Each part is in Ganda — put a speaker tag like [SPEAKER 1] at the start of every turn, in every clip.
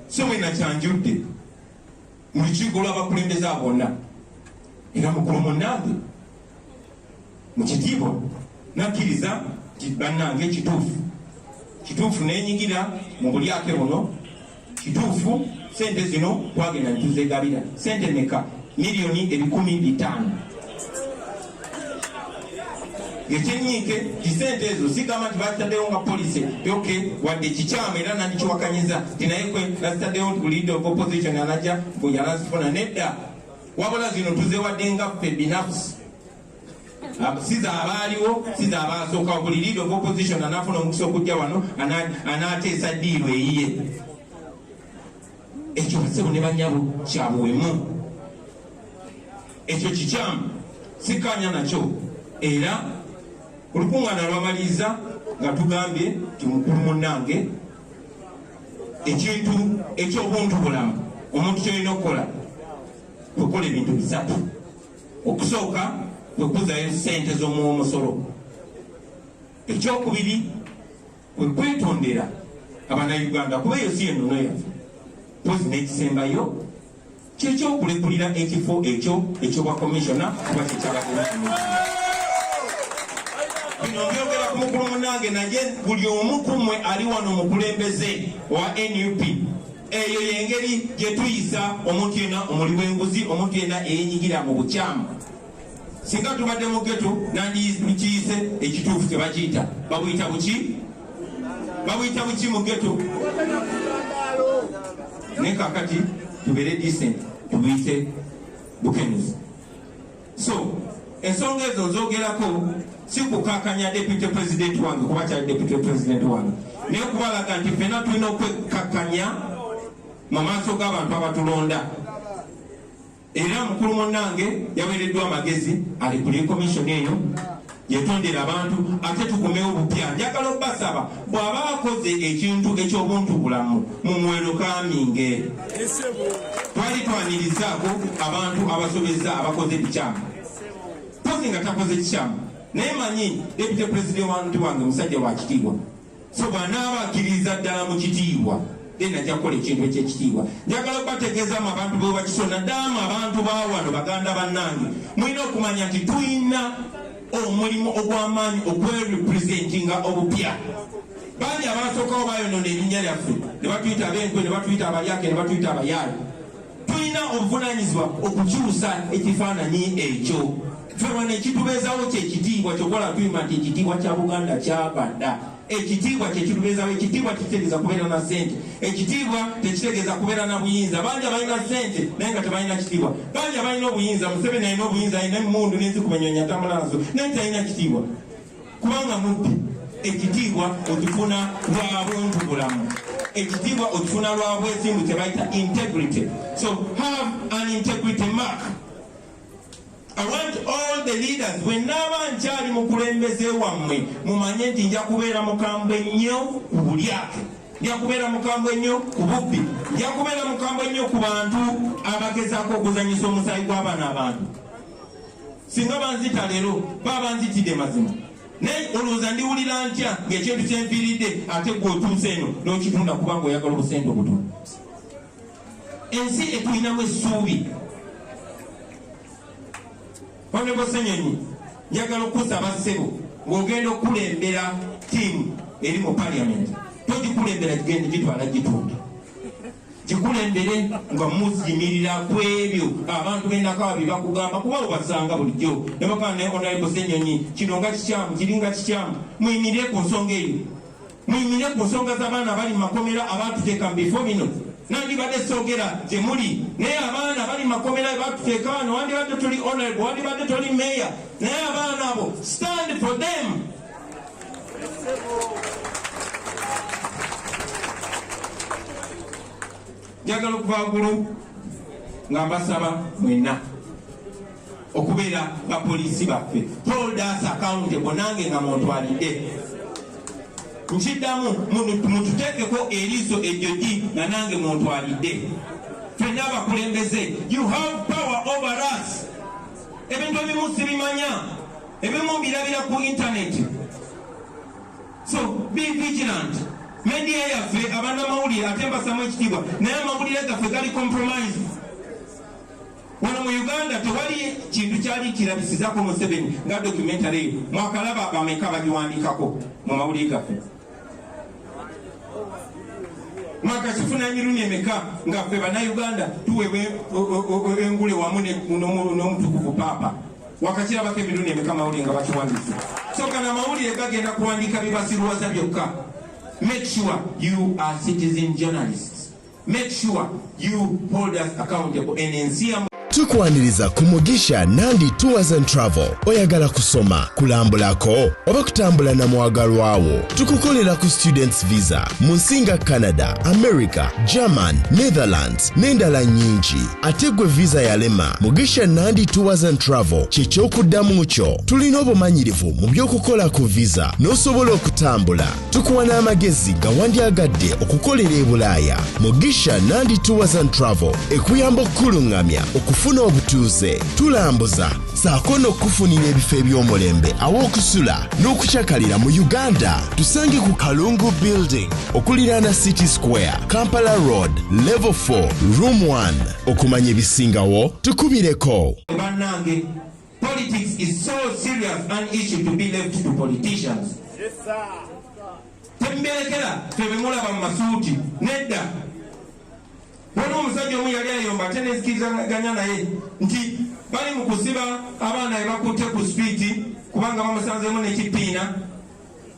[SPEAKER 1] Ssebo eno akyanjudde mu lukiiko lw'abakulembeze abo bonna era mukulu munnange mu kitiibwa nakkiriza nti bannange kituufu kituufu nenyigira mu bulyake buno kituufu sente zino twagenda netuzegabira sente meka miliyoni ebikumi bitaano ekyenyiike kisente ezo sigamba nti bazitaddewo nga policy ok wadde kikyamu era nandikiwakanyiza ti naye kwe nazitaddewo nti bulidde of opposition anaja bweyanazifuna nedda wabula zino tuzewadde nga ffe binafusi siza abaaliwo siza abaasookawo buli lead of opposition anafuna omukisa okujja wano anaateesa diiru eyiye Ekyo ssebo ne banyabo kya buwemu, ekyo kikyamu, sikkaanya nakyo. Era olukuŋŋaana lwamaliriza nga tugambye nti mukulu munnange, ekintu eky'obuntu bulamu omuntu ky'olina okukola kukola ebintu bisatu. Okusooka kwe kuzaayo ssente z'omuwa omusolo, ekyokubiri kwe kwetondera abanauganda kuba eyo si enono yaffe mpozi n'ekisembayo kyekyokulekulira ekifo ekyo ekyobwa komisiona kuba kyekyabademu bino byogera ku mukulu munange naye buli omu kumwe ali wano mukulembeze owa nup eyo yengeri gyetuyisa omuntu yena omuli wenguzi omuntu yena eyenyigira mu bukyamu singa tubadde mu geto nandikiyise ekituufu kyebakiyita babuyita buki babuyita buki mu geto naye kakati tubeere decent tubuyite bukenuzi so ensonga ezo nzogerako sikukakanya deputy president wange kuba kyali deputy president wange naye kubalaga nti fena tulina okwekakanya mu maaso g'abantu abatulonda Era mukulu munange yawereddwa amagezi alekulire komishoni eyo yetondera abantu ate tukomewo bupya njagala obasaba bw'aba akoze ekintu eky'obuntu bulamu mumwero kaminge twali twanirizaako abantu abasobezza abakoze ebikyamu pozi nga takoze kikyamu naye manyi depute pulezidenti wantu wange musajja wa kitiibwa so bwanaaba akkiririza ddala mu kitiibwa then ajja kukola ekintu ekyekitiibwa njagala okubategeezamu abantu bebakiso naddala mu abantu bawano baganda bannange mulina okumanya nti tulina omulimu ogw'amaanyi okwerepresentinga obupya bangi abasookawo bayonona erinnya lyaffe ne batuyita abenkwe ne batuyita abalyake ne batuyita abayaali Tulina obuvunaanyizibwa okukyusa ekifaananyi ekyo. Ffe wano ekitubeezawo kye kitiibwa kyokola tuyima nti ekitiibwa kya Buganda kyava dda. Ekitiibwa kye kitubeezawo. Ekitiibwa tekitegeeza kubeera na ssente. Ekitiibwa tekitegeeza kubeera na buyinza. Bangi abalina ssente naye nga tebalina kitiibwa. Bangi abalina obuyinza, Museveni alina obuyinza, alina emmundu n'ezikuba ennyonyi atambula nazo naye talina kitiibwa. kubanga mubbi ekitiibwa okifuna lwa buntu bulamu ekitiibwa okifuna lwa bwesimbu kyebayita integrity so have an integrity mark I want all the leaders when naaba nkyali mukulembeze wammwe mumanye nti nja kubeera mukambwe nnyo ku bulyake nja kubeera mukambwe ennyo ku bubbi nja kubeera mukambwe ennyo ku bantu abagezaako okuzanyisa omusaayi gw'abaana abantu singa banzita leero baba banzitidde mazima naye olowooza ndiwulira ntya ng'ekintu kyempiiridde ate gwe otuuse eno n'okitunda kubanga oyagala obusente obutono ensi etulinamu essuubi onebo senyonyi njagala okukusaba ssebo ng'ogenda okukulembera tiimu eri mu paliamenti togikulembera gigenda gitwala gitunda kikulembere nga muzimirira kwebyo abantu benakawa byebakugamba kuba obasanga bulijjo nebagamba naye onalebo senyonyi kino nga kikyamu kiringa kikyamu muyimirire ku nsonga eyo muyimirire ku nsonga z'abaana abali mu makomera abaatuteeka mu bifo bino nandibadde sogera gyemuli naye abaana bali makomera batuteeka wano wandibadde toli onalebo wandibadde toli meeya naye abaana abo stand for them njagala okuva gulu nga mbasaba mwena okubeera bapoliisi baffe hold us accountable nange nga muntwalidde nkiddamu mututeekeko eriiso ejo gi nga nange muntwalidde fenna abakulembeze you have power over us ebintu ebimu sibimanya ebimu mbirabira ku internet so be vigilant media yaffe abanamawulire ate mbasamu ekitiibwa naye amawulire gaffe gali compromise wano mu uganda tewali kintu kyali kirabisizako museveni nga documentary eyo mwakalaba bameka bagiwandikako mu mawulire gaffe mwaka kifuna emirundi emeka nga ffe bannayuganda tuweebwa e, e, e, engule wamu n'omutukuvu paapa wakakirabako emirundi emeka amawulire nga bakiwandiisa soka na mawulire gagenda kuwandiika bibasiruwaza byokka make sure you are citizen journalists Make sure you hold us accountable and in CM tukwaniriza ku
[SPEAKER 2] mugisha nandi tours and travel oyagala kusoma kulambulako oba kutambula na mwagalwawo tukukolera ku students visa mu nsi nga canada america german netherlands n'endala nyingi ate gwe visa yalema mugisha nandi tours and travel kyekyokuddamu kyo tulina obumanyirivu mu by'okukola ku visa n'osobola okutambula tukuwa n'amagezi gawandyagadde okukolera e bulaaya mugisha nandi tours and travel ekuyamba okukuluŋŋamya okufuna obutuuze tulambuza saako n'okukufunira ebifo eby'omulembe aw'okusula n'okucakalira mu uganda tusange ku kalungu building okuliraana city square kampala road level 4 room 1 okumanya ebisingawo tukubireko banange
[SPEAKER 1] Politics is so serious an issue to be left to politicians. Yes, sir. Temberekera tebemulaba mu masuuti nedda. Waliwo omusajja omu yali ayomba ate nezikizaganya naye nti bali mu kusiba abaana be bakutte ku sipiiti kubanga bamusanzemu n'ekipiina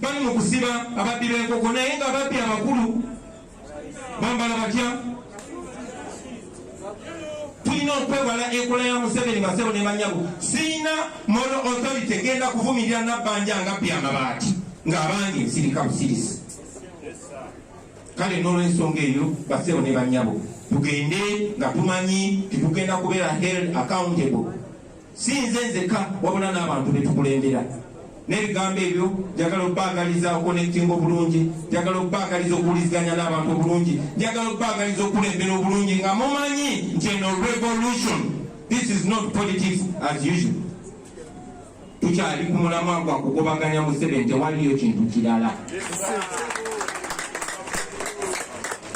[SPEAKER 1] bali mu kusiba ababbi b'enkoko naye nga babbi abakulu bambala batya tulina okwewala enkola ya museveni basebo ne banyabo sirina mono authority genda kuvumirira nabbanja nga bya mabaati ng'abangi nsirika busirisi kale n'olwensonga eyo basebo ne banyabo tugende nga tumanyi titugenda kubeera held accountable Si nze nzekka wabula n'abantu be tukulembera. N'ebigambo ebyo njagala okubaagaliza okukonektinga obulungi, njagala okubaagaliza okuwuliziganya n'abantu obulungi, njagala okubaagaliza okukulembera obulungi nga mumanyi nti eno revolution, this is not politics as usual. Tukyali ku mulamwa gwa kugobaganya Museveni, tewaliyo kintu kirala.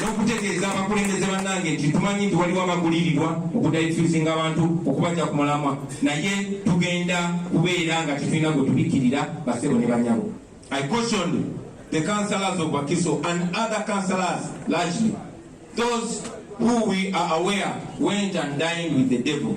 [SPEAKER 1] n'okutegeeza abakulembeze bannange nti tumanyi nti waliwo abagulirirwa okudayituzinga abantu okubaja ku mulamwa naye tugenda kubeera nga tetulina gwe tubikkirira basebo ne banyabo i cautioned the councillors of bakiso and other councillors largely those who we are aware went and dined with the devil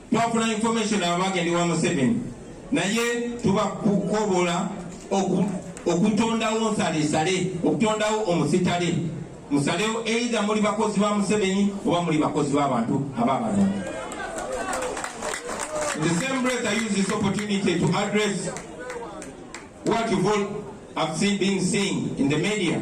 [SPEAKER 1] twafuna information abo bagenda ewa museveni naye tuba kukobola okutondawo nsalesale okutondawo omusitale musalewo eidha muli bakozi ba museveni oba muli bakozi babantu ababano the same breath i use this opportunity to address what you've all have seen being seen in the media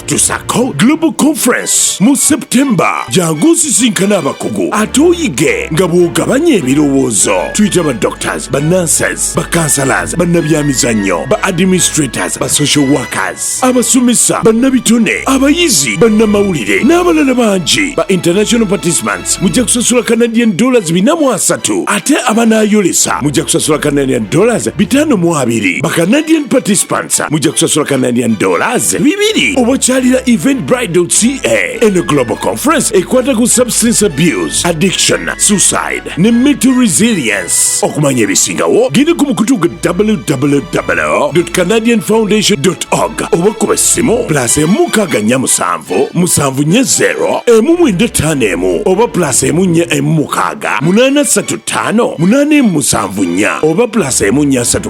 [SPEAKER 3] tusako global conference mu september jangu osisinkana abakugu ate oyige nga bw'ogabanya ebirowoozo tuyita ba doctors ba nurses ba counselors bannabyamizannyo ba administrators ba social workers abasomesa bannabitone abayizi bannamawulire n'abalala bangi ba international participants mujja kusasula canadian dollars bina mu asatu ate abanaayolesa mujja kusasula canadian dollars bitano mu abiri ba canadian participants Mukasa mujja kusasula Canadian dollars bibiri oba kyalira event bridal ca eno global conference ekwata ku substance abuse addiction suicide ne mental resilience okumanya ebisingawo genda ku mukutu gwa www canadian foundation org oba kuba essimu plus emu nkaaga nnya musanvu musanvu nye 0 emu mwenda ttaano emu oba plus emu nye emu mukaaga munaana ssatu ttaano munaana emu musanvu nnya oba plus emu nnya ssatu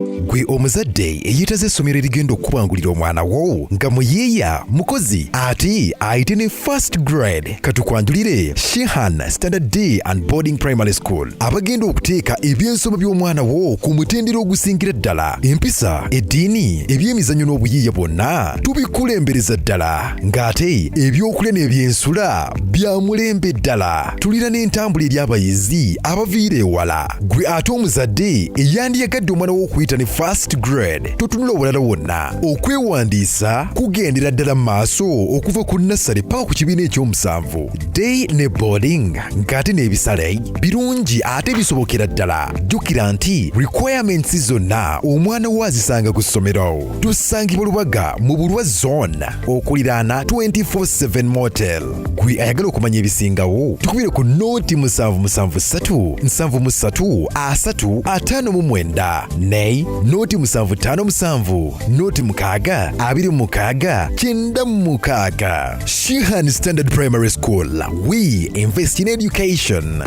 [SPEAKER 4] gwe omuzadde eyeetaze essomero erigenda okukubangulira omwana wo nga muyiiya mukozi ate ayite ne first grade katukwanjulire shehan standard d and boarding primary school abagenda okuteeka ebyensoma by'omwana wo ku mutendera ogusingira ddala empisa eddiini ebyemizannyo n'obuyiiya bwonna tubikulembereza ddala ng'ate ebyokulya n'ebyensula bya mulembe ddala tulina n'entambula eri abayizi abaviira ewala Gwe ate omuzadde eyandiyagadde omwana w'okuyita ne first grade totunula obulala wonna. Okwewandiisa kugendera ddala mu maaso okuva ku nassale paka ku kibiina ekyomusanvu. Day ne boarding ng'ate n'ebisale birungi ate bisobokera ddala. Jjukira nti requirements zonna omwana wo azisanga ku ssomero. Tusangibwa Lubaga mu Bulwa zone okuliraana 24/7 motel. gwe ayagala okumanya ebisingawo tukubire ku nooti musanvu musanvu ssatu nsanvu mu ssatu asatu ataano mu mwenda nay nooti musanvu ttaano musanvu nooti mukaaga abiri mu mukaaga kyenda mu mukaaga shihan standard primary school we invest in education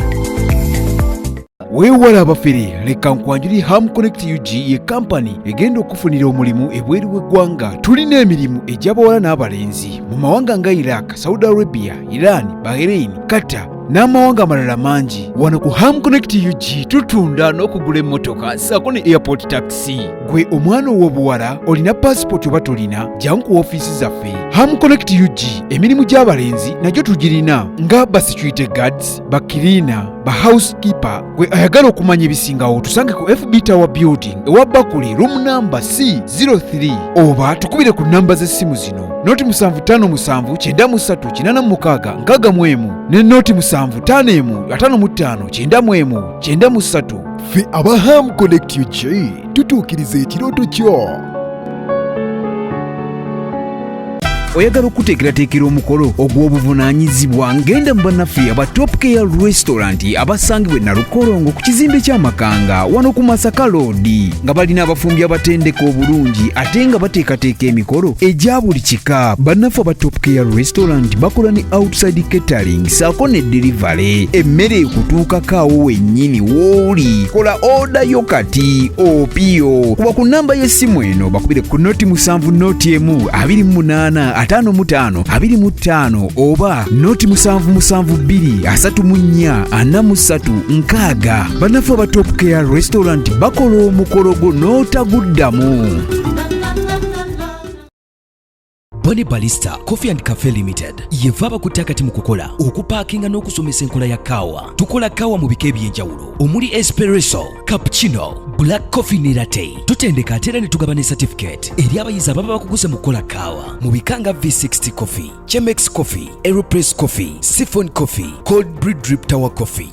[SPEAKER 5] weewala abafere leka nkwanjuli ham connect ug ye kampani egenda okufunira omulimu ebweru w'eggwanga tulina emirimu egy'abawala n'abalenzi mu mawanga nga iraq saudi arabia iran bahrain qatar n'amawanga amalala mangi wano ku ham connect ug tutunda n'okugula emmotoka saako ne airport taxi gwe omwana ow'obuwala olina paasipooti oba tolina jangu ku ofiisi zaffe ham connect ug emirimu gy'abalenzi nagyo tugirina nga basecurity guards bakirina ba housekeeper gwe ayagala okumanya ebisingawo tusange ku fb tower building ewa bakuli room namba c03 oba tukubire ku namba z'essimu zino noti 757936 ne noti 755959 93 ffe aba
[SPEAKER 4] ham connect ug tutuukiriza ekirooto kyo
[SPEAKER 5] oyagala okuteekerateekera omukolo ogw'obuvunaanyizibwa ngenda mu bannaffe aba top care restaurant abasangibwa enalukolongo ku kizimbe ky'amakanga wano ku masaka loodi nga balina abafumbi abatendeka obulungi ate nga bateekateeka emikolo egya buli kika bannaffe aba top care restaurant bakola ne outside catering saako ne delivery emmere ekutuukako awo wennyini wooli kola oda yo kati opiyo kuba ku nnamba y'essimu eno bakubire ku noti musanvu noti emu abiri mu munaana ataano mu taano abiri mu ttaano oba noti musanvu musanvu bbiri asatu mu nnya ana mu ssatu nkaaga bannaffe aba top care restaurant bakola omukolo gwo n'otaguddamu Bone Balista Coffee and Cafe Limited yeva abakutte akati mu kukola okupaakinga n'okusomesa enkola ya kaawa. Tukola kaawa mu bika eby'enjawulo omuli espresso, cappuccino, black coffee ne latte. Tutendeka ate era ne tugaba ne certificate eri abayizi ababa bakuguze mu kukola kaawa mu bika nga V60 Coffee, Chemex Coffee, Aeropress Coffee, Siphon Coffee, Cold Brew Drip Tower Coffee.